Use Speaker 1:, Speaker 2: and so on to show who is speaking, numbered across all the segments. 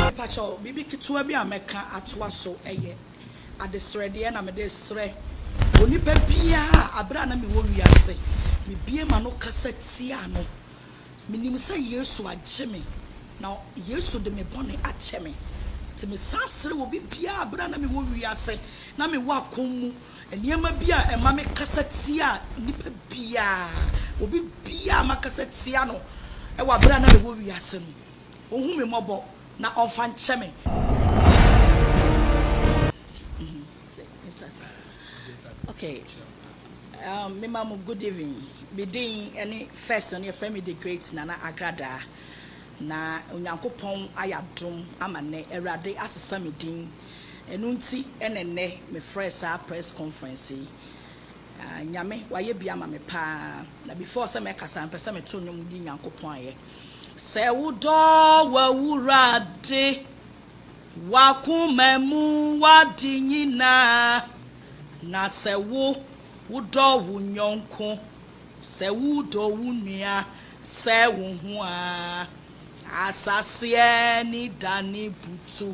Speaker 1: Mepakyɛw, biribi ketewa bi a mɛka atoa so yɛ adesrɛdeɛ na mede resrɛ onipa biara a aberɛ a na mewɔ wiase mebue m'ano kasa tiaa no. Menim sɛ Yesu agye me na Yesu de me bɔne akyɛ me. Nti mesan srɛ obi biara aberɛ a na mewɔ wiase na mewɔ akɔm mu Nneɛma bi a ɛma me kasa tia nipa biara, obi biara makasa tia no wɔ aberɛ a na mewɔ wiase no, ɔhu me mmɔbɔ na ɔmfa nkyɛ me. Okay, um, me ma mo good evening. Me din ne first no yɛfrɛ me the great Nana Agradaa. Na Onyankopɔn ayɛ adom ama nɛ Awurade asesa me din. Ɛno nti na ɛnnɛ mefrɛɛ saa press conference yi. Ah, Nyame, wayɛ bi ama me pa ara. Na before sɛ mɛkasa no, mepɛ sɛ meto nnwom di Nyankopɔn ayɛ. Sɛ wodɔ w'Awurade, w'akoma mu, w'ade nyinaa, na sɛ wo, wodɔ wo yɔnko, sɛ wodɔ wo nua sɛ wo ho a, asaseɛ ani dane butu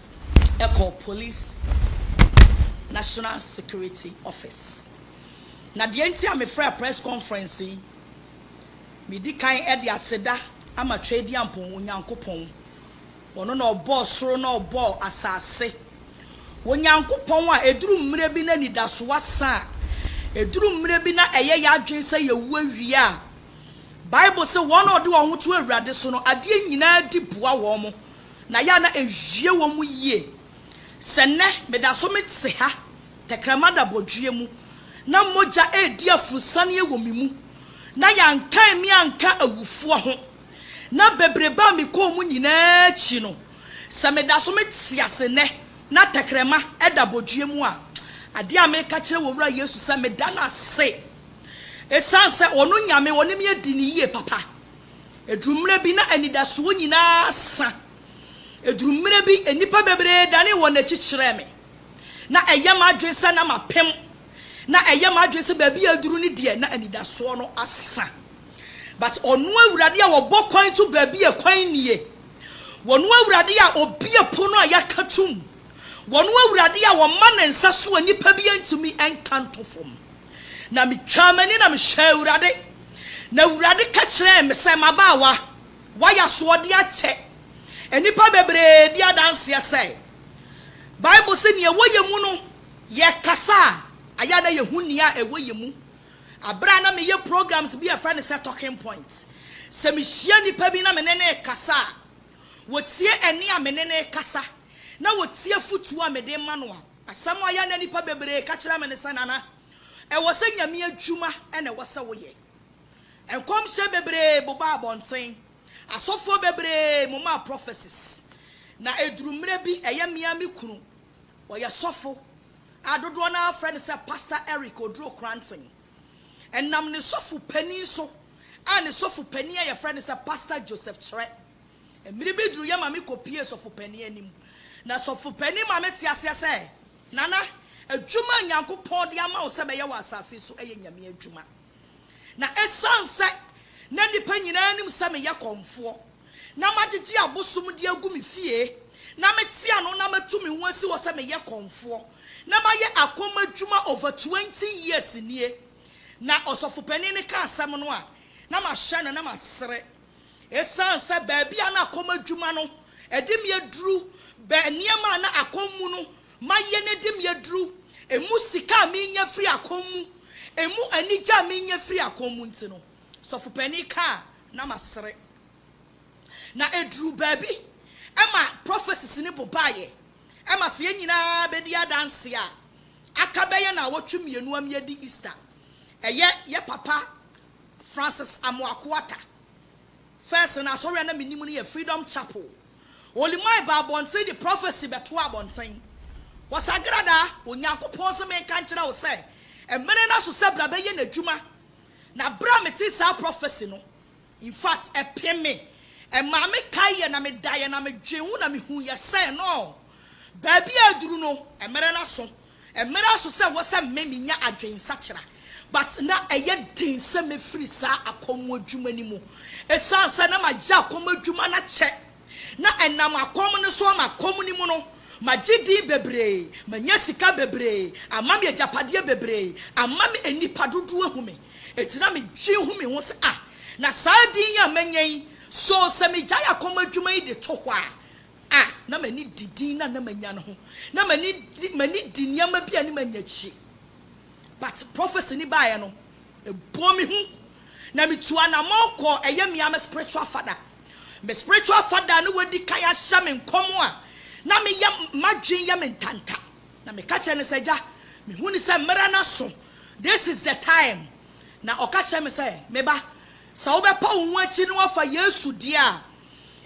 Speaker 1: kɔɔ Police National Security Office. Na deɛ nti a mefrɛɛ press conference yi, medi kan de aseda ama Tweaduampɔn Onyankopɔn. Ɔno na ɔbɔɔ soro na ɔbɔɔ asase. Onyankopɔn a ɛduru mmerɛ bi na anidasoɔ asa a, ɛduru mmerɛ bi na ɛyɛ yɛn adwene sɛ yɛwu awie a, Bible se wɔn a wɔde wɔn ho to Awurade so no, adeɛ nyinaa di boa wɔn. na yɛ a na ewie wɔn mu yie. Sɛ nnɛ meda so mete ha, tɛkrɛma da bɔdweɛ mu, na mogya redi aforosianeɛ wɔ me mu, na yɛankan me anka awufoɔ ho, na bebrebe a mekɔɔ mu nyinaa akyi no, sɛ meda so mete ase nnɛ na tɛkrɛma da bɔdweɛ mu a, adeɛ a mereka kyerɛ wɔ Wura Yesu sɛ meda no ase, ɛsiane sɛ Ɔno Nyame, Ɔne me adi no yie papa. Ɛduru mmerɛ bi na anidasoɔ nyinaa sa. Ɛduru mmerɛ bi nnipa bebree danee wɔn akyi kyerɛɛ me. Na ɛyɛ m'adwene sɛ na mapem. Na ɛyɛ m'adwene sɛ baabi a aduru no deɛ na anidasoɔ no asa. But Ɔno Awurade a Ɔbɔ kwan to baabi a kwan nnie, Ɔno Awurade a Ɔbue pono a yɛaka tom, Ɔno Awurade a Ɔma Ne nsa so a nnipa bi ntumi nka nto fam. Na mitwaa m'ani na mehwɛɛ Awurade, na Awurade ka kyerɛɛ me sɛ, M'abaawa, woayɛ asoɔden akyɛ nnipa bebree bi adanseɛ sɛ, Bible se nea ɛwɔ yɛn mu no, yɛkasa a, ayɛ a na yɛhu nea ɛwɔ yɛn mu. Berɛ a na meyɛ programs bi a yɛfrɛ no sɛ Talking Point, sɛ mehyia nnipa bi na me ne no rekasa a, wɔtie ɛnne a me ne no rekasa, na wɔtie afotuo a mede rema no a, Asɛm a ɔyɛ na nnipa bebree ka kyerɛ me ne sɛ, Nana, ɛwɔ sɛ Nyame adwuma na ɛwɔ sɛ woyɛ. Nkɔmhyɛ bebree bobaa abɔnten, asɔfoɔ bebree momaa prophecies, na ɛduru mmerɛ bi ɛyɛ me ara me kunu, ɔyɛ sɔfo a dodoɔ no ara frɛ no sɛ Pastor Eric Oduro Kranten. Ɛnam ne sɔfo panin so a ne sɔfo panin a yɛfrɛ no sɛ Pastor Joseph Kyerɛ. Mmere bi duruiɛ ma me kɔpuee sɔfopanin anim, na sɔfopanin ma mete aseɛ sɛ, Nana, adwuma a Nyankopɔn de ama wo sɛ bɛyɛ wɔ asase so ɛyɛ Nyame adwuma. Na ɛsiane sɛ na nnipa nyinaa nim sɛ meyɛ kɔmfoɔ, na magyegye abosom de agu me fie, na mete ano na matu me ho asi hɔ sɛ meyɛ kɔmfoɔ, na mayɛ akɔm adwuma over twenty years nie. Na ɔsɔfopanin no ka asɛm no a, na mahyɛ no na masere. Esiane sɛ baabi a na akɔm adwuma no de me aduru bɛn nneɛma a na akɔm mu no mayɛ no de me aduru, emu sika a menya firi akɔm mu, emu anigye a menya firi akɔm mu nti no, sɔfo panin ka a, na masere. Na eduruu baabi ma prophecies no bobaeɛ ma sɛ yɛn nyinaa bɛdi adanseɛ a, aka bɛyɛ nnawɔtwe mmienu ama yɛadi Easter. Ɛyɛ yɛn papa Francis Amoako Atta. First no asɔre a na menim no yɛ Freedom Chapel. Olimai baa abɔnten de prophecy bɛtoaa abɔnten. Kwasagrada, Onyankopɔn se menka nkyerɛ wo sɛ mmere no aso sɛ bra bɛyɛ n'adwuma. Na bere a metee saa prophecy no, in fact ɛpem me. Ɛmaa me kaeɛ na medaeɛ na medwen ho na mehuiɛ sɛ no, baabi a aduru no, mmere no aso. Ɛmmra so sɛ wɔ sɛ me menya adwen nsakyera but na ɛyɛ den sɛ mɛfiri saa akɔm adwuma no mu ɛsiane sɛ na mayɛ akɔm adwuma no akyɛ na ɛnam akɔm no so ama akɔm no mu no magye din bebree manya sika bebree ama me agyapadeɛ bebree ama me nnipa dodoɔ ahu me ɛti na me dwen hu me ho sɛ ah na saa din yi a manya yi so sɛ megyae akɔm adwuma yi de to hɔ a a na m'ani di din no a na manya no ho. Na m'ani di m'ani di nneɛma bi a ne manya akyire. But prophecy no baeɛ no, ɛbɔɔ me hu. Na metuu anamɔn kɔɔ ɛyɛ me ara me spiritual father. Me spiritual father a na wadi kan ahyɛ me nkɔm a na meyɛ m'adwene yɛ me ntanta. Na meka kyerɛɛ no sɛ, Agya, mehu no sɛ mmerɛ no aso. This is the time. Na ɔka kyerɛɛ me sɛ, Me ba, sɛ wobɛpa wo ho akyiri na woafa Yesu deɛ a,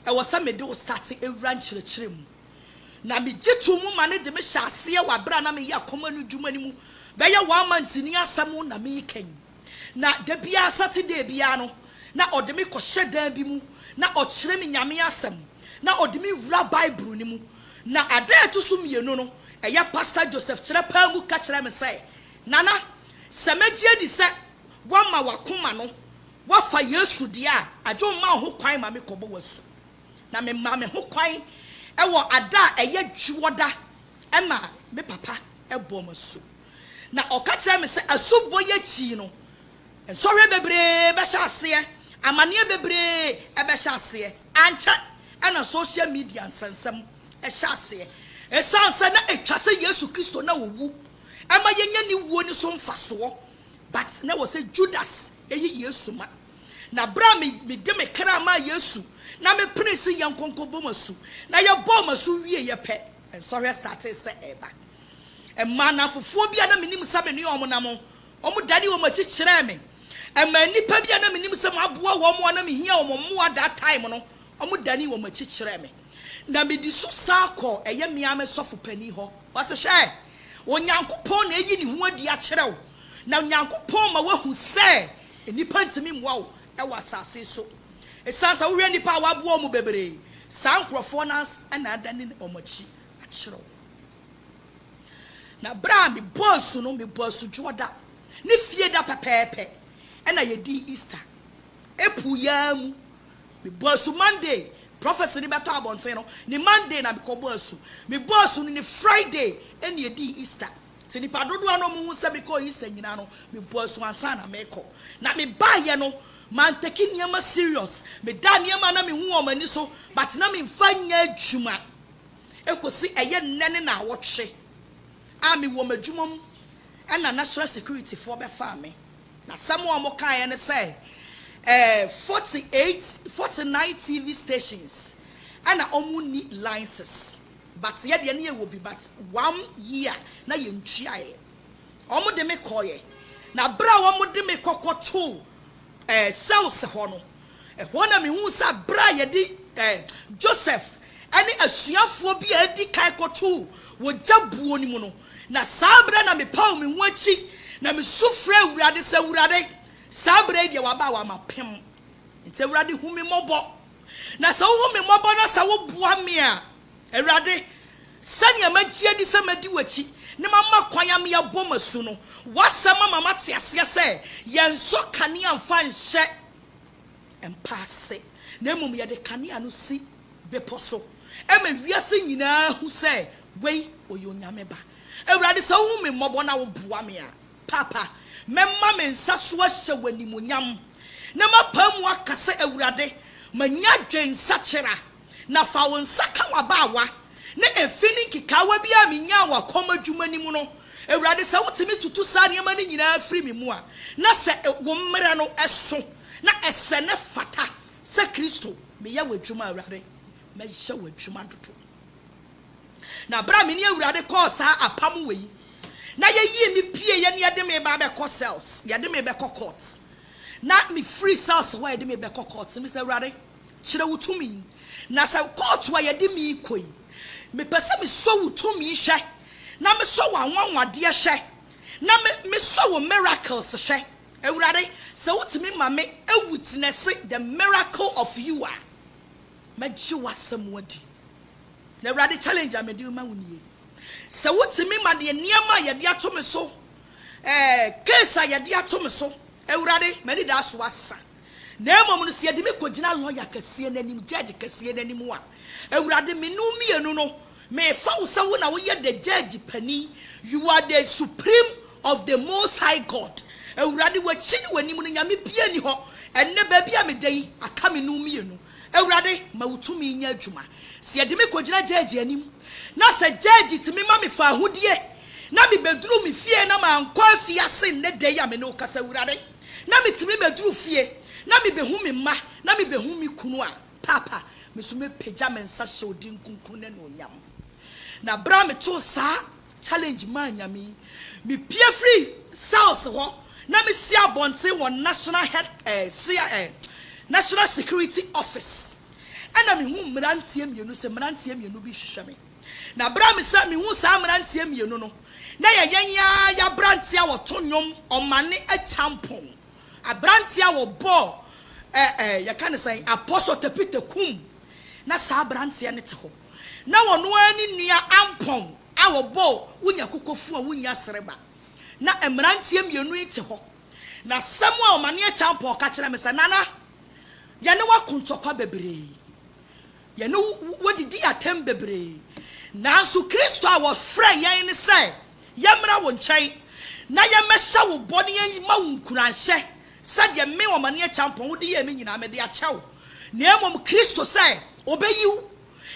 Speaker 1: ɛwɔ sɛ mede wo starte awura nkyerɛkyerɛ mu. Na megye to mu ma no de me hyɛ aseɛ wɔ aberɛ a na meyɛ akoma no dwuma no mu bɛyɛ one month ni asɛm na mekan. Na da biara Saturday biara no na ɔde me kɔhyɛ dan bi mu na ɔkyerɛ me Nyame asɛm na ɔde me wura Bible no mu. Na adaa ɛto so mmienu no ɛyɛ Pastor Joseph kyerɛ paa mu ka kyerɛɛ me sɛ, Nana, sɛ mɛgye adi sɛ woama w'akoma no Woafa Yesu deɛ a, agye wo ma wo ho kwan ma me kɔbɔ w'asu. Na me maa me ho kwan wɔ ada a ɛyɛ dwoɔda ma me papa bɔɔ me asu. Na ɔka kyerɛɛ me sɛ asubɔ yi akyi no, nsɔhwɛ bebree bɛhyɛ aseɛ, amaneɛ bebree bɛhyɛ aseɛ. Ankyɛ na social media nsɛnsɛm hyɛ aseɛ. Ɛsiane sɛ na ɛtwa sɛ Yesu Kristo na ɔwu ma yɛnya ne wuo no so mfasoɔ But na ɛwɔ sɛ Judas yi Yesu ma. Na berɛ a mede me kra maa Yesu na mepenee se yɛnkɔnkɔbɔ mo asu, na yɛbɔɔ mo asu wieeɛ pɛ, nsɔhwɛ startee sɛ ɛreba. Ɛmaa nnamfofoɔ bi a na menim sɛ me ne wɔn nam no, wɔdanee wɔn akyi kyerɛɛ me. Ɛmaa nnipa bi a na menim sɛ maboa wɔn a na mehia wɔn mmoa that time no, wɔdanee wɔn akyi kyerɛɛ me. Na medi so san kɔɔ ɛyɛ me ara me sɔfo panin hɔ. Ɔse, Hwɛ! Onyankopɔn na ayi ne ho adi akyerɛ wo, na Onyankopɔn ma woahu sɛ nnipa ntumi mmoa wo wɔ asase so. Esiane sɛ wohwɛ nnipa a wɔaboa wɔn bebree, saa nkurɔfoɔ no ara na adane wɔn akyi akyerɛ wo. Na berɛ a mebɔɔ asu no, mebɔɔ asu Dwoɔda ne Fieda pɛpɛɛpɛ na yɛdii Easter. April yi ara mu Mebɔɔ asu Monday, prɔfɛse no bɛtɔ abɔnten no, ne Monday na mekɔbɔɔ asu. Mebɔɔ asu no ne Friday na yɛdii Easter. Sɛ nnipa dodoɔ no a wɔhu sɛ mekɔɔ Easter nyinaa no, mebɔɔ asu ansa na merekɔ. Na mebaeɛ no, mantake nneɛma serious. Medaa nneɛma a na mehu wɔn m'ani so but na memfa nyɛ adwuma kɔsi ɛyɛ nnɛ ne nnawɔtwe a mewɔ m'adwuma mu na National Securityfoɔ bɛfaa me. N'asɛm a wɔkaeɛ ne sɛ, ɛɛ, forty eight, forty nine TV stations na wɔnni licenses but yɛ deɛ na yɛwɔ bi but one year na yɛntuaeɛ. Wɔde me kɔeɛ na berɛ a wɔde me kɔ kɔtoo ɛɛ, cells hɔ no, Ɛhɔ na mihuu sɛ bere a yɛde Joseph ne asuafoɔ bi a edi kan kɔtoo wɔ gya buo no mu no, na saa bere na mepaw me ho akyi na misu frɛɛ Awurade sɛ, Awurade, saa bere yi deɛ waba a wama pem. Enti Awurade hu me mmɔbɔ. Na sɛ wohu me mmɔbɔ na sɛ woboa me a, Awurade, sɛnea magye adi sɛ mɛdi w'akyi na mama kwan ama yɛabɔ m'asu no, w'asɛm ama mate aseɛ sɛ yɛnsɔ kanea mfa nhyɛ mpa ase, na mmom yɛde kanea no si bepɔ so ma wiase nyinaa hu sɛ wei ɔyɛ Onyame Ba. Awurade, sɛ wohu me mmɔbɔ na woboa me a, Paapa, mɛma me nsa so ahyɛ w'animuonyam, na mapae mu aka sɛ, Awurade, manya adwensakyera. Na fa wo nsa ka w'abaawa, na efi ne nkekaawa bi a minyaa wɔ kɔm adwuma no mu no, Awurade, sɛ wotumi tutu saa nneɛma no nyinaa firi me mu a, na sɛ wo mmara no so na ɛsɛ na ɛfata sɛ Kristo, meyɛ w'adwuma, Awurade, mɛyɛ w'adwuma dodo. Na bere a me ne Awurade kɔɔ saa apam wɔ yi, na yɛyii me pieeɛ na yɛde me ba bɛkɔ cells, yɛde me bɛkɔ court, na mefiri cells hɔ a yɛde me bɛkɔ court, mese, Awurade, Kyerɛ wo tumi. Na sɛ kɔɔto a yɛde me rekɔ yi, mepɛ sɛ mesɔ wo tumi hwɛ, na mesɔ w'anwanwadeɛ hwɛ, na me, mesɔ wo miracles hwɛ. Awurade, sɛ wotumi ma me awutenɛse the miracle of you a, mɛgye w'asɛm adi. Na Awurade, challenge a mede rema wo nie. Sɛ wotumi ma deɛ nneɛma a yɛde ato me so, ɛɛ, case a yɛde ato me so, Awurade, m'anidaso asa. Na mmom no, sɛ yɛde me kɔgyina lɔya kɛseɛ no anim, gyɛɛgye kɛseɛ no anim a, Awurade, me ne wo mmienu no, mefa wo sɛ wo na woyɛ the gyɛɛgye panin, you are the supreme of the Most High God. Awurade, w'akyi ne w'anim no, nyame biara nni hɔ. Ɛnnɛ, baabi a meda yi, aka me ne wo mmienu. Awurade, ma wo tumi nyɛ adwuma. Sɛ yɛde me kɔgyina gyɛɛgye anim, na sɛ gyɛɛgye tumi ma mefa ahodie, na mebɛduru me fie na mankɔ afiase nnɛ da yi a me ne wo kasa, Awurade, na metumi bɛduru fie na mebɛhu me mma na mebɛhu me kunu a, Paapa, me nso mɛpagya me nsa hyɛ wo din kronkron no animuonyam. Na berɛ a metoo saa challenge maa Nyame yi, mepue firii cells hɔ na mesi abɔnten wɔ National Head, eh, cia, eh, National Security Office. Ɛna mehuu mmeranteɛ mmienu sɛ mmeranteɛ mmienu bi rehwehwɛ me. Na bere a mesan mihuu saa mmeranteɛ mmienu no, na ɛyɛ yɛn yi ara yɛn aberanteɛ a ɔto nnwom, ɔmane akyampɔn, aberanteɛ a ɔbɔɔ ɛ ɛ yɛka no sɛn, Apostle Tepite Kum, na saa aberanteɛ no te hɔ. Na ɔno ara ne nua Ampɔn a ɔbɔɔ Wonya Kokofu a Wonnya Sereba. Na mmeranteɛ mmienu yi te hɔ. Na asɛm a ɔmane akyampɔn ka kyerɛɛ me sɛ, Nana, yɛne wo ako ntɔkwa bebree. Yɛne wo didii atɛm bebree. Nanso Kristo a wɔfrɛɛ yɛn ne sɛ yɛmmra wo nkyɛn na yɛmmɛhyɛ wo bɔ na yɛmma wo nkuranhyɛ sɛdeɛ me, Ɔmane Akyampɔn, wode yɛɛ me nyinaa mede akyɛ wo, na mmom Kristo sɛ ɔbɛyi wo,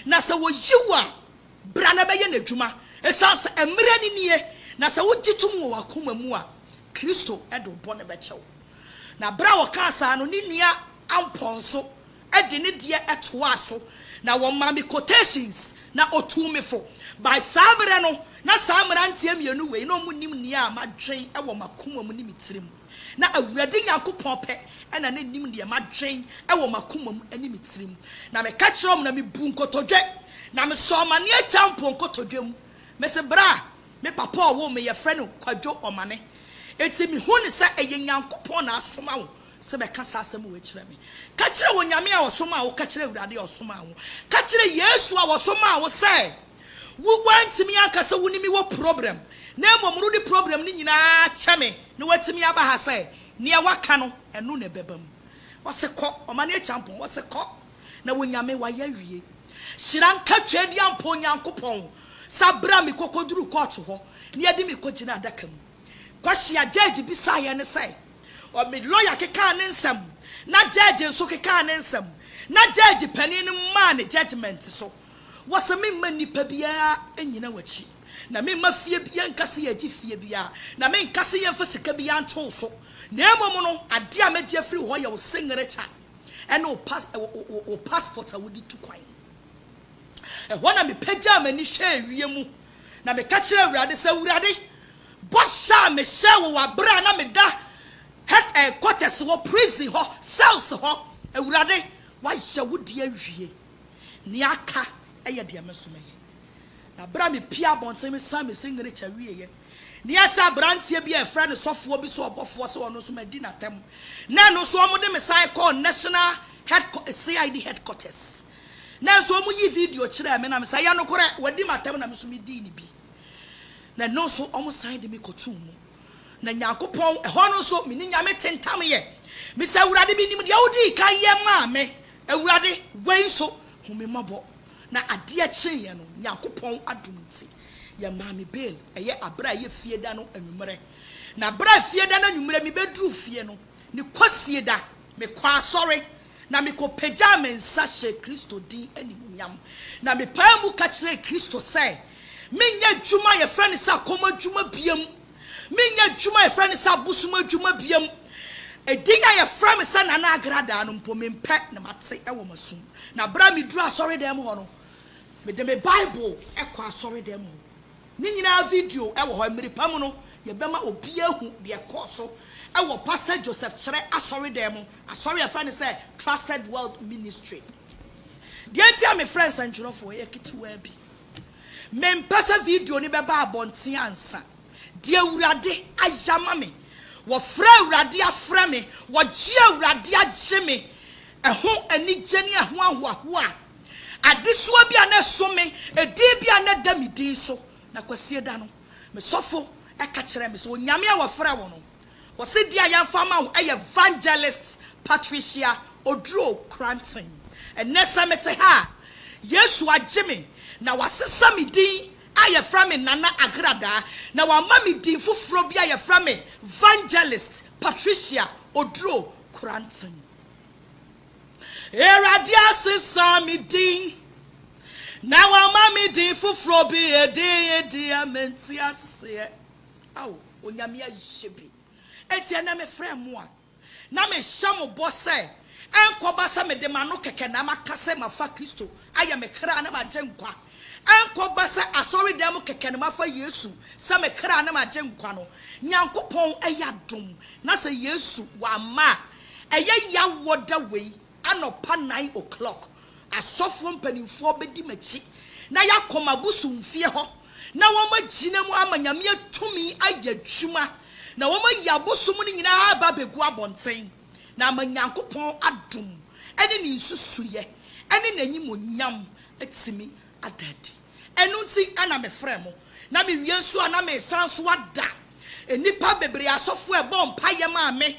Speaker 1: na sɛ ɔyi wo a, bra na bɛyɛ n'adwuma, ɛsiane sɛ mmerɛ no nie, na sɛ wogye tom wɔ w'akoma mu a, Kristo de wo bɔne bɛkyɛ wo. Na berɛ a ɔkaa saa no, ne nua Ampɔn nso de ne deɛ toaa so na wɔmaa me quotations na ɔtuu me fo. By saa berɛ no, na saa mmeranteɛ mmienu wei na wɔnim nea madwen wɔ m'akoma mu ne me tirim. Na Awurade Nyankopɔn pɛ na na nim deɛ madwen wɔ m'akoma mu ne me tirim. Na meka kyerɛɛ wɔn na mebuu nkotodwe, na mesɔɔ m'aneɛ gyaa mpo nkotodwe mu. Mese berɛ a me papa a ɔwoo me yɛfrɛ no Kwadwo Ɔmane, enti mehu no sɛ ɛyɛ Nyankopɔn na asoma wo sɛ bɛka saa asɛm wei kyerɛ me. Ka kyerɛ Onyame a ɔsomaa wo, ka kyerɛ Awurade a ɔsomaa wo, ka kyerɛ Yesu a ɔsomaa wo sɛ wo woantumi anka sɛ wo ne me wɔ problem na mmom rode problem no nyinaa kyɛ me na woatumi aba ha sɛ neɛ woaka no ɛno na ɛbɛba mu. Ɔse kɔ, ɔma no akyampɔn, ɔse kɔ na Onyame wayɛ awie. Hyira nka Tweaduampɔn Nyankopɔn sɛ aberɛ a me kɔkɔduruu kɔɔto hɔ ne yɛde me kɔgyinaa adaka mu, Kwashiagyagyi bisaa yɛn sɛ, Ɔ me lɔya kekaa ne nsɛm, na gyɛɛgye nso kekaa ne nsɛm, na gyɛɛgye panin no maa ne gyɛgyemɛnte so wɔ sɛ memma nnipa biara nnyina w'akyi, na memma fie bi, yɛnka sɛ yɛregye fie biara, na menka sɛ yɛmfa sika biara nto wo so, na mmom no, adeɛ a mɛgye afiri wo hɔ yɛ wo seŋerekya ne wo pas, wo, wo, wo passport a wode tu kwan. Ɛhɔ na mepagyaa m'ani hwɛɛ wiem, na meka kyerɛɛ Awurade sɛ, Awurade, Bɔhyɛ a mehyɛɛ wo wɔ bere a na meda head eh quarters hɔ, prison hɔ, cells hɔ, Awurade, woayɛ wo deɛ awie. Nea aka yɛ deɛ me nso mɛyɛ. Na bere a mepue abɔnten mesan me signature wieeɛ, na ɛyɛ sɛ aberanteɛ bi a wɔfrɛ no sɔfoɔ bi sɛ ɔbɔfoɔ sɛ ɔno nso madi n'atɛm, na ɛno nso wɔde me san kɔɔ national head CID head quarters. Nanso wɔyii video kyerɛɛ me na mesɛ, ɛyɛ nokorɛ, wɔadi m'atɛm na me nso medii no bi. na ɛno nso wɔsan de me kɔtoo mu. Na Nyankopɔn, ɛhɔ no nso me ne Nyame tentamyɛ. Mese, Awurade, menim deɛ wodii kan yɛ maa me. Awurade, wei nso, hu me mmɔbɔ. Na adeɛ kyeeɛ no, Nyankopɔn adom nti, yɛmaa me bail, ɛyɛ aberɛ a ɛyɛ Fieda no anwummerɛ. Na berɛ a Fieda no anwummerɛ mebɛduruu fie no, ne Kwasieda, mekɔɔ asɔre, na mikopagyaa me nsa hyɛɛ Kristo din animuonyam, na mepaa mu ka kyerɛɛ Kristo sɛ menyɛ adwuma a yɛfrɛ no sɛ akɔm adwuma biam, menyɛ adwuma a yɛfrɛ no sɛ abosom adwuma biam. Edin a yɛfrɛ me sɛ Nana Agradaa no mpo, mempɛ na mate wɔ m'asom. Na bere a miduu asɔredan hɔ no, mede me Bible kɔɔ asɔredan hɔ. Ne nyinaa video wɔ hɔ. Mmere pa mu no, yɛbɛma obiara ahu deɛ ɛkɔɔ so wɔ Pastor Joseph Kyerɛ asɔredan mu Asɔre a yɛfrɛ no sɛ Trusted World Ministry. Deɛ nti a mefrɛ nsɛntwerɛfoɔ yɛ ketewaa bi. Mempɛ sɛ video no bɛba abɔnten ansa. Deɛ Awurade ayɛ ama me, wɔfrɛ Awurade afrɛ me, wɔgye Awurade agye me, ɛho anigye ne ɛho ahoahoa, adesoa bi a na ɛso me, edin bi a na ɛda me din so. Na Kwasida no, me sɔfo ka kyerɛɛ me sɛ, Onyame a wɔfrɛ wo no, Wɔse deɛ a yɛmfa ama wo ɛyɛ Vangelist Patricia Oduro Kranten. Ɛnnɛ sɛ mete ha a, Yesu agye me na wasesa me din a yɛfrɛ me Nana Agradaa na wama me din foforɔ bi a yɛfrɛ me Vangelist Patricia Oduro Kranten. Awurade asesa me din na wama me din foforɔ bi, edin yi deɛ mente aseɛ. Ao Onyame ayɛ bi. Enti ɛnnɛ mefrɛɛ mo a, na mehyɛ mo bɔ sɛ ɛnkɔba sɛ mede m'ano kɛkɛ na maka sɛ mafa Kristo ayɛ me kra ne m'agyenkwa, ɛnkɔba sɛ asɔredan mu kɛkɛ na mafa Yesu sɛ me kra ne m'agyenkwa no. Nyankopɔn ayɛ adom na sɛ Yesu wamma a, ɛyɛ yaw wɔ da wei Anɔpa nine o'clock, asɔfoɔ mpanimfoɔ bɛdi m'akyi na yɛakɔ m'abosomfie hɔ na wɔagyina mu ama Nyame atumi ayɛ adwuma na wɔayi abosom no nyinaa aba abɛgu abɔnten na ama Nyankopɔn adom ne Ne nsusuiɛ ne N'animuonyam atumi ada adi. Ɛno nti na mefrɛɛ mo, na mewie nso a na meresan nso ada nnipa bebree asɔfo a ɛbɔɔ mpaeɛ maa me,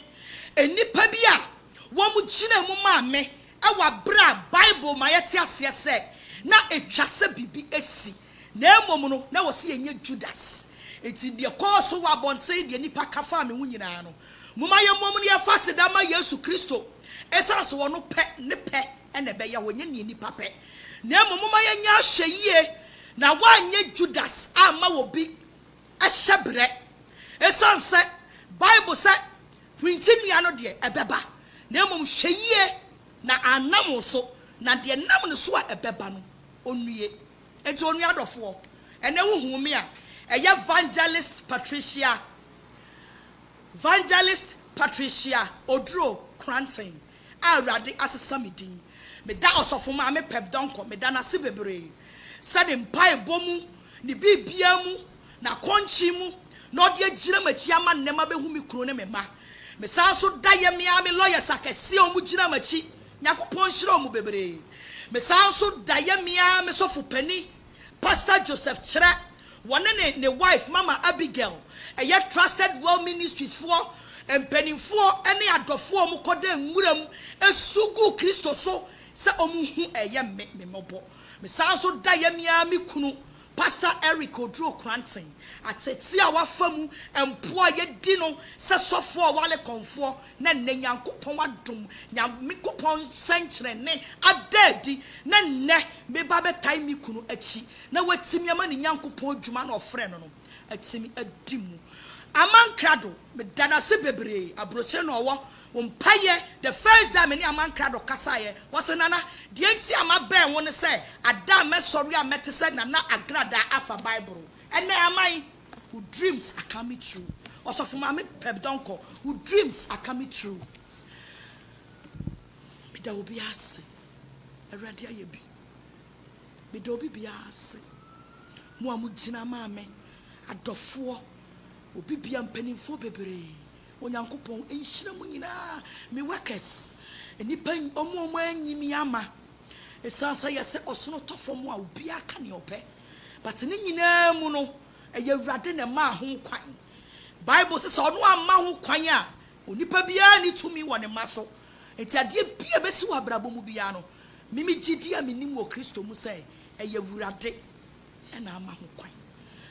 Speaker 1: nnipa bi a wɔgyinaa mu maa me wɔ aberɛ a Bible ma yɛte aseɛ sɛ na ɛtwa sɛ biribi asi, na mmom no na wɔse yɛnyɛ Judas. Enti deɛ ɛkɔɔ so wɔ abɔnten, deɛ nnipa ka faa me ho nyinaa no, momma yɛmmom na yɛmfa aseda mma Yesu Kristo, ɛsiane sɛ ɔno pɛ ne pɛ na ɛbɛyɛ a wɔnyɛ nea nnipa pɛ, na mmom momma yɛnyɛ ahwɛyiye na wɔanyɛ Judas amma obi hyɛberɛ. Esiane sɛ Bible sɛ hwinti nnua no deɛ, ɛbɛba, na mmom hwɛ yiye na annam wo so, na deɛ ɛnam ne so a ɛbɛba no, onnue. Enti onua adɔfoɔ, ɛnnɛ wohuu me a, ɛyɛ Vangelist Patricia, Vangelist Patricia Oduro Kranten. a Awurade asesa me din. Meda Ɔsɔfo Maame Peb Donkor meda no ase bebree sɛ ne mpaebɔ mu, ne biribiara mu, n'akɔnkye mu na ɔde agyina m'akyi ama nnɛ mabehu me kunu ne me mma. Mesan nso da yɛ me ara me lawyers akɛse a wɔgyina m'akyi, Nyankopɔn nhyira wɔn bebree. Mesan nso da yɛ me ara me sɔfo panin, Pastor Joseph Kyerɛ Wɔne ne ne wife Mama Abigail, ɛyɛ Trusted Well Ministries foɔ mpaninfoɔ ne adɔfoɔ a wɔn kɔda nwura mu su gu Kristo so sɛ wɔn hu ɛyɛ me me mmɔbɔ. Me san nso da yɛ me ara me kunu Pastor Eric Oduro Kranten atetee a wafa mu mpo a yɛ di no sɛ sɔfoɔ a ɔwale kɔnfoɔ na nnɛ Nyankopɔn adom Nyankopɔn sɛnkyerɛnne ada adi na nnɛ me ba bɛtae me kunu akyi na watumi ama ne Nyankopɔn adwuma no a ɔfrɛɛ no no atumi adi mu ama nkrado. Meda no ase bebree, aburokyire na ɔwɔ, wo mpaeɛ, the first day a me ne Ama Nkrado kasaeɛ, ɔse, Nana, deɛ nti a mabɛn wo ne sɛ, ada a mɛsɔre a mɛte sɛ Nana Agradaa afa Bible ɛnɛ ama yi, wo dreams are coming true, Ɔsɔfo Maame Peb Donkor, wo dreams are coming true. Meda obiara ase, Awurade ayɛ bi. Meda obi biara ase, mo a mo gyina maa me, adɔfoɔ, obi biara, mpaninfoɔ bebree, Onyankopɔn nhyira mo nyinaa, me workers, nnipa, wɔn a wɔn anyi me ama, ɛsiane sɛ yɛ sɛ ɔsono tɔ fam a obiara ka nea ɔpɛ, but ne nyinaa mu no, ɛyɛ Awurade na ɛmaa ho kwan, Bible se sɛ ɔno amma ho kwan a, onipa biara nni tumi wɔ ne mma so, enti adeɛ biara ɛbɛsi wɔ abrabɔ mu biara no, Me me gyidi a menim wɔ Kristo mu sɛ ɛyɛ Awurade na ama ho kwan.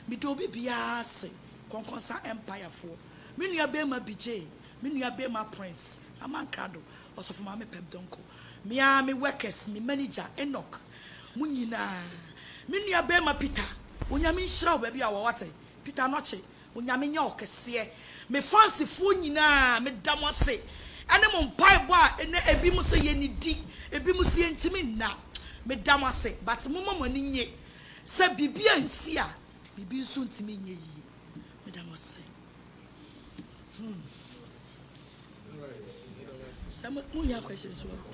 Speaker 1: Meda obi biara ase, Kɔnkɔnsa Empirefoɔ, me nua barima Bijay, me nua barima Prince, Aman Krado, Ɔsɔfo Maame Peb Donkor, me ara me workers, me manager Enoch, mo nyinaa, me nua barima Peter, Onyame nhyira wo baabi a wɔ, wate, Peter Anokye, Onyame nyɛ ɔkɛseɛ. Me fansifoɔ nyinaa meda mo ase ɛne mo mpaebɔ a ɛnɛ ebi mo sɛ yɛnidi ebi mo sɛ yɛntimi nna meda mo ase but momma mo ani nye sɛ biribi ansi a biribi nso ntimi nyɛ yie meda mo ase hmm sɛ mo mo hia questions
Speaker 2: wɔ hɔ.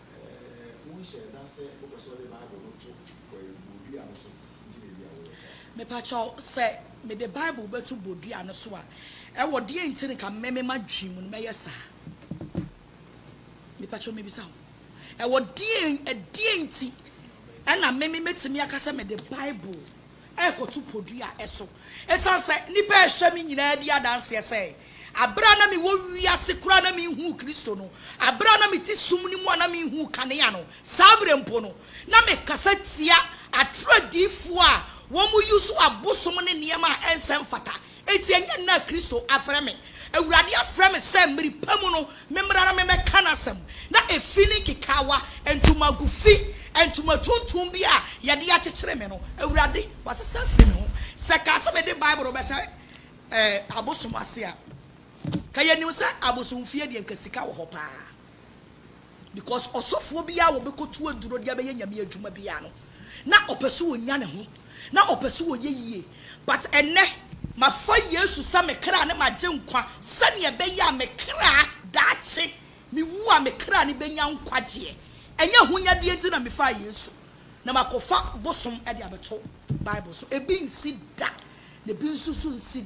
Speaker 1: Wonhyɛɛ da sɛ wopɛ sɛ wode Bible no to bodua no so nti na ebia woyɛ saa. Mepa kyɛw, sɛ mede Bible bɛto bodua no so a, ɛwɔ deɛn nti na nka me, me m'adwene mu no mɛyɛ saa? Mepa kyɛw mebisa wo, ɛwɔ deɛn, ɛdeɛn nti na me, me mɛtumi aka sɛ mede Bible. rekɔto podua so. Esiane sɛ nnipa a ɛhyɛ me nyinaa di adanseɛ sɛ bere a na mewɔ wiase koraa na menhuu Kristo no, bere a na mete sum no mu a na menhuu kanea no, saa bere mpo no, na mekasa tia atoro adiyifoɔ a wɔyi so abosom ne nneɛma a ɛnsɛ mfata Enti ɛnyɛ nnɛ a Kristo afrɛ me. Awurade afrɛ me sɛ mmere pa mu no memmra na memmɛka n'asɛm. Na efi ne nkekaawa, ntomago fi, ntoma tuntum bi a wɔde akyekyere me no, Awurade, wɔasesa afi me ho. Sɛ ɛkaa sɛ mede Bible rebɛhyɛ abosom ase a, ka yɛnim sɛ abosomfie deɛ anka sika wɔ hɔ paa. Because ɔsɔfoɔ biara a wɔbɛkɔtu aduro de abɛyɛ Nyame adwuma biara no, na ɔpɛ sɛ ɔnya ne ho, na ɔpɛ sɛ ɔyɛ yie. But ɛnnɛ, mafa Yesu sɛ me kra ne m'agyenkwa sɛdeɛ ɛbɛyɛ a me kra, daakye mewu a, me kra no bɛnya nkwagyeɛ. Ɛnyɛ ahonyadeɛ nti na mefaa Yesu na makɔfa bosom de abɛto Bible so. Ebi nsi da, na ebi nso so nsi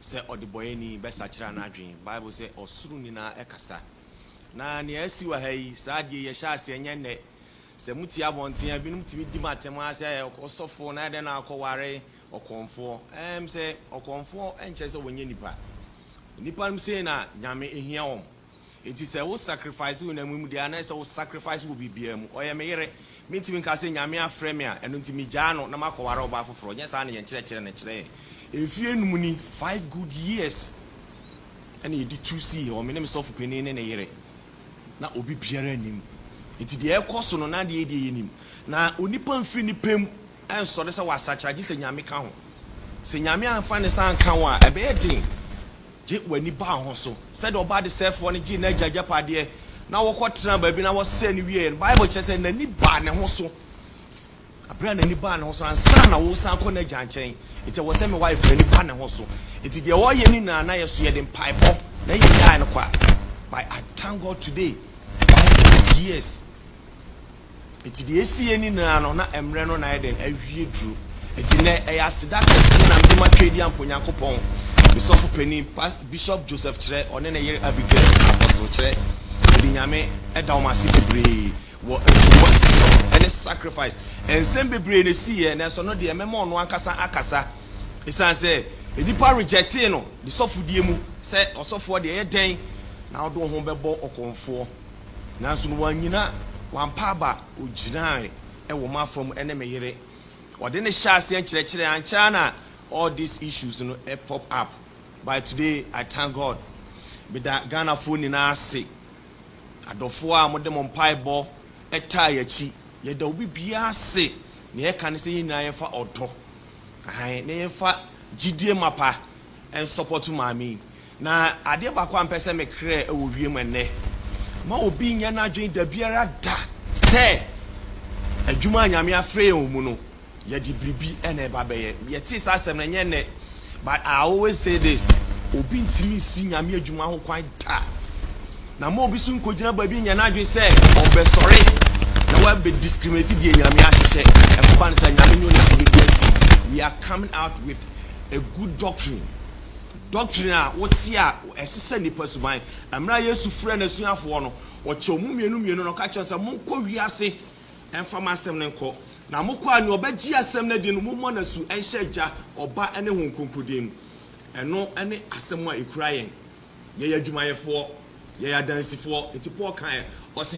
Speaker 3: sɛ ɔdebɔeɛni bɛsakyera n'adwene. Bible sɛ ɔsoro nyinaa kasa. Na nea asi wɔ ha yi, saa adeɛ yi ɛhyɛ aseɛ nyɛ nnɛ. Sɛ motie abɔnten a, binom tumi di mo atɛm ara sɛ ɔsɔfoɔ na adɛn na akɔware ɔkɔmfoɔ. Ɛɛm sɛ ɔkɔmfoɔ nkyerɛ sɛ ɔnyɛ nipa. Nnipa nom sei na Nyame hia wɔn. Enti sɛ wo sacrifice honam yi mu deɛ a na ɛsɛ wo sacrifice wɔ biribiara mu. Ɔyɛ me yere. Mentumi nka sɛ Nyame afrɛ me a ɛno nti megyaa no na makɔware ɔbaa foforɔ. Nyɛ saa na yɛn nkyerɛkyerɛ no kyerɛ yɛn. Mfeɛ nnum ni, five good years, ɛna yɛde tu sii hɔ, me ne me sɔfo panin ne ne yere. Na obi biara nnim. Enti deɛ ɛrekɔ so no na adeɛ yɛ deɛ yɛnim. Na onipa mfiri ne pɛ mu nsɔre sɛ wasakyera gye sɛ Nyame ka ho. Sɛ Nyame amfa ne nsa anka wo a ɛbɛyɛ den. Gye w'ani baa ho so. Sɛdeɛ ɔbaa desɛefoɔ no gyee n'agya agyapadeɛ na wɔkɔtenaa baabi na wɔsɛee no wieeɛ no, Bible kyerɛ sɛ n'ani baa ne ho so. Berɛ a n'ani baa ne ho so no, ansa na woresan akɔ n'agya nkyɛn, enti ɛwɔ sɛ me wife no ani ba ne ho so. Enti deɛ ɔreyɛ no nyinaa, na yɛn nso yɛde mpaebɔ na yɛgyaee no kɔ a, but I thank God today, wife of years. Enti deɛ ɛsi yɛ nyinaa no, na mmerɛ no na ayɛ dɛn? Awie duro. Enti nnɛ, ɛyɛ aseda kɛseɛ na mede ma Tweedi Ampɔn Nyankopɔn, me sɔfo panin, pa, Bishop Joseph Kyerɛ, ɔne ne yere Abigail, Apostle Kyerɛ. Mede Nyame da wɔn ase bebree wɔ nsuwa ɛne sacrifice. Nsɛm bebree na ɛsi yɛ, nanso ɛno deɛ mɛma ɔno ankasa akasa. Ɛsiane sɛ nnipa rejectee no ne sɔfodie mu sɛ ɔsɔfoɔ deɛ, ɛyɛ dɛn na wode wo ho bɛbɔ ɔkɔmfoɔ? Nanso no wannyina, wampa aba, ogyinae wɔ m'afa mu ne me yere. Ɔde no hyɛɛ aseɛ nkyerɛkyerɛ, ankyɛ ara na all these issues no pop up, by today I thank God. Meda Ghanafoɔ nyinaa ase, adɔfoɔ a mode mo mpaebɔ taa yɛn akyi. Yɛda obi biara ase, nea yɛka ne sɛ yɛn nyinaa yɛmfa ɔdɔ, ahan, na yɛmfa gyidie mapa nsɔpɔto maame yi. Na adeɛ baako a mpɛ sɛ mekerɛ wɔ wiem ɛnnɛ, ma obi nyɛ n'adwene dabiara da sɛ adwuma a Nyame afrɛ yɛn wɔ mu no, yɛde biribi na ɛba bɛyɛ. Yɛtee saa asɛm no, ɛnyɛ nnɛ, but I always say this, obi ntumi nsi Nyame adwuma ho kwan da. Na ma obi so nkɔgyina baabi nyɛ n'adwene sɛ ɔbɛsɔre na wabɛ discriminate deɛ Nyame ahyehyɛ. Ɛkɔba no sɛ Nyame nyɛ ɔne biribi asi. We are coming out with a good doctrine. Dɔktrine a wote a ɛsesa nnipa suban. Mmerɛ a Yesu frɛɛ N'asuafoɔ no, Ɔkyɛɛ wɔn mmienu mmienu na Ɔka kyerɛɛ wɔn sɛ, Monkɔ wiase mfa m'asɛm no nkɔ, na mokɔ a, nea ɔbɛgye asɛm no adi no, mommɔ no asu nhyɛ Agya, Ɔba, ne Honhom Kronkron din mu. Ɛno ne asɛm a ɛkura yɛn. Yɛyɛ adwumayɛfoɔ. Yɛyɛ adansifoɔ. Nti Paul kaeɛ, ɔse.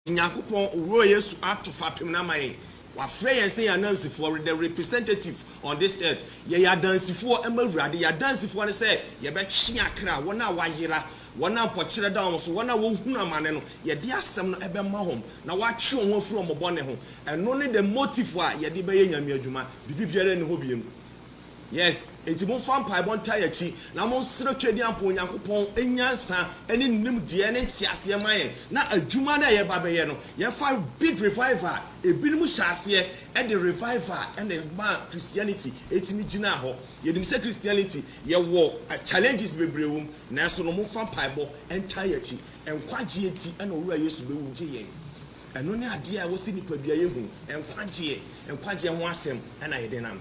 Speaker 3: Nyankopɔn Wura Yesu ato fapem no ama yɛn. Wafrɛ yɛn sɛ yɛn anansifoɔ, we're the representative on this earth. Yɛyɛ adansifoɔ ma Awurade. Yɛn adansifoɔ ne sɛ yɛbɛtwe akra, wɔn a wɔayera, wɔn a mpɔkyerɛ da wɔn so, wɔn a wɔhunu amane no, yɛde asɛm no bɛma wɔn na wɔatwe wɔn ho afiri wɔn bɔne ho. Ɛno ne the motive a yɛde bɛyɛ Nyame adwuma. Biribi biara nni hɔ biom. Yes, enti momfa mpaebɔ ntaa yɛn akyi, na monsrɛ Twadiampo Nyankopɔn nyansa ne nimdeɛ ne nteaseɛ ma yɛn, na adwuma no a yɛreba abɛyɛ no, yɛmfa big revival a ebinom hyɛɛ aseɛ de revival na ɛmaa Christianity tumi gyinaa hɔ. Yɛnim sɛ Christianity, yɛwɔ challenges bebree wɔ mu, nanso no momfa mpaebɔ ntaa yɛn akyi. Nkwagyeɛ nti na Owura Yesu bɛwu gye yɛn. Ɛno ne adeɛ a ɛwɔ sɛ nnipadua yɛ hu, nkwagyeɛ, nkwagyeɛ ho asɛm na yɛde nam.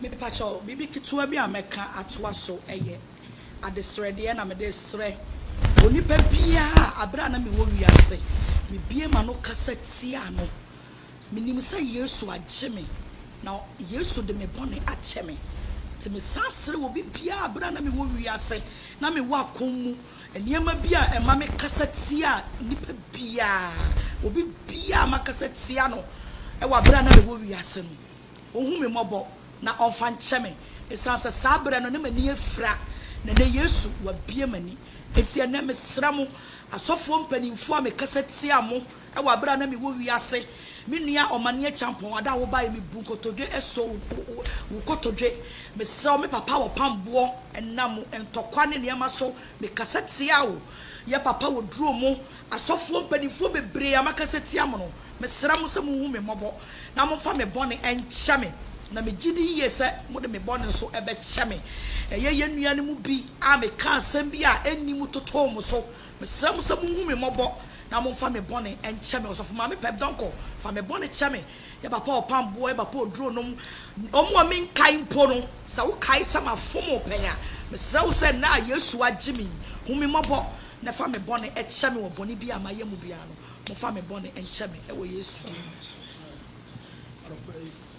Speaker 1: Mepakyɛw, biribi ketewa bi a mɛka atoa so yɛ adesrɛdeɛ na mede resrɛ onipa biara a berɛ a na mewɔ wiase, mebue m'ano kasa tiaa no. Menim sɛ Yesu agye me, na Yesu de me bɔne akyɛ me. Nti mesan srɛ obi biara a berɛ a na mewɔ wiase na mewɔ akɔm mu, Nneɛma bi a ɛma me kasa tia nipa biara, obi biara makasa tia no wɔ aberɛ a na mewɔ wiase no, ɔhu me mmɔbɔ na ɔmfa nkyɛ me, ɛsiane sɛ saa aberɛ no na m'ani afira na ɛnɛ Yesu wabue m'ani. Enti ɛnɛ mesrɛ mo asɔfoɔ mpaninfoɔ a mekasa tia mo, Wɔ aber a nna mowɔ wiase, me nua Omanie Acheampong, ada a wobae, mibu nkotodwe so wo kotodwe. Meserɛ wo, me papa wɔ pamboɔ, nam ntɔkwa ne nneɛma so, mekasa tsia wo. Yɛ papa wɔ duro mo. Asɔfoɔ mpanimfoɔ bebree a makasa tsia mo no, meserɛ mo sɛ monhu me mmɔbɔ na momfa me bɔne nkyɛ me, na megye di yie sɛ mode me bɔne nso bɛkyɛ me. Ɛyɛ yɛn nua no mu bi a mekaa asɛm bi a enni mu totoo mo so Mesrɛ mo sɛ monhu me mmɔbɔ na momfa me bɔne nkyɛ me. Ɔsɔfo Maame Pep Donkor, fa me bɔne kyɛ me. Yɛ Bapa Ɔpamboɔ, yɛ Bapa Oduro nom. Wɔn a menkae mpo no, sɛ wokae sɛ mafom wo pɛn a, mesrɛ wo sɛ nnɛ a Yesu agye me yi, hu me mmɔbɔ na fa me bɔne kyɛ me wɔ bɔne biara a mayɛ mu biara no. Momfa me bɔne nkyɛ me wɔ Yesu din mu.